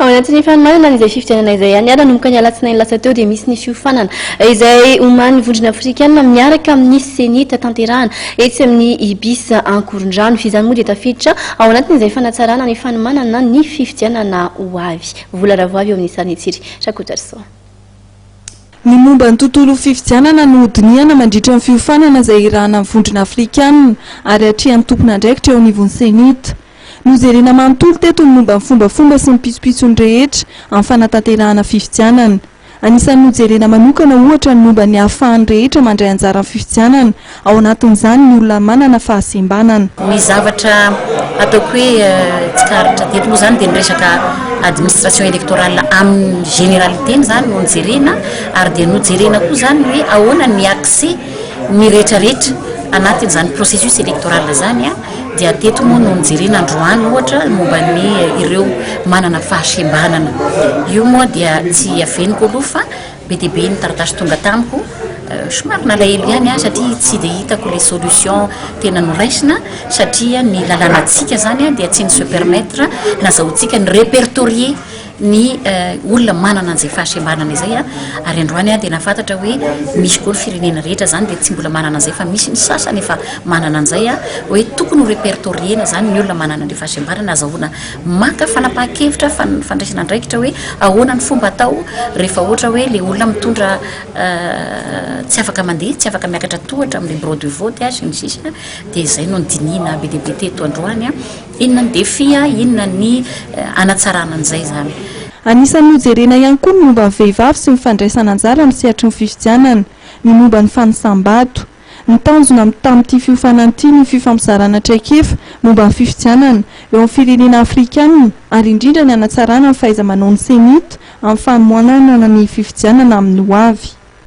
Ao anatin'ny fanomanana an'izay fifidianana izay any nanomboka ny alatsinainy lasa teo dia misy ny fiofanana izay omanin'ny vondrona afrikana miaraka amin'ny ceni tatanterahana etsy amin'ny ibis ankorondrano. Izany moa dia tafiditra ao anatin'izay fanatsarana ny fanomanana ny fifidianana ho avy. Vola ravoavy eo amin'ny sarin'i Tsiry Rakotoarisoa. Ny momba ny tontolon'ny fifidianana no hodinihana mandritra ny fiofanana izay hirahana ny vondrona afrikanina ary hatrehan'ny tompon'andraikitra eo anivon'ny Cenit. Nojerena manontolo teto ny momba ny fombafomba sy ny pitsopitsony rehetra amin'ny fanatanterahana fifidianana. Anisan'ny nojerena manokana ohatra ny momba ny ahafahan'ny rehetra mandray anjara amin'ny fifidianana Ao anatin'izany ny olona manana fahasembanana. Ny zavatra ataoko hoe tsikaritra teto moa izany dia ny resaka administration électorale amin'ny généralité-ny izany no jerena ary dia nojerena koa izany ny hoe ahoana ny accès ny rehetrarehetra anatin'izany processus électoral izany dia teto moa no nojerena androany ohatra momba ny ireo manana fahasembanana. Io moa dia tsy aveniko aloha fa. Be dia be ny taratasy tonga tamiko, somary nalahelo ihany aho satria tsy dia hitako ilay solution tena noraisina satria ny lalànantsika izany dia tsy ny se permettre nazahoantsika ny repertorier ny olona manana an'izay fahasembanana izay ary androany aho dia nafantatra hoe misy koa ny firenena rehetra izany dia tsy mbola manana an'izay fa misy ny sasany efa manana an'izay hoe tokony ho repertorier-na izany ny olona manana an'ilay fahasembanana azahoana Maka fanapahan-kevitra fa ny fandraisana andraikitra hoe ahoana ny fomba atao rehefa ohatra hoe ilay olona mitondra tsy afaka mandeha, tsy afaka miakatra tohatra amin'ilay bureau de vote sy ny sisa dia izay no nodinihina be dia be teto androany. Inona ny défi, inona ny hanatsarana an'izay izany. Anisan'ny hojerena ihany koa ny momba ny vehivavy sy ny fandraisana anjara amin'ny sehatry ny fifidianana, ny momba ny fanisam-bato. Ny tanjona am tamin'ity fiofanana ity ny fifampizarana traikefa momba ny fifidianana eo amin'ny firenena afrikanina ary indrindra ny hanatsarana ny fahaiza-manaon'ny CENI-T amin'ny fanomanana ny fifidianana amin'ny hoavy.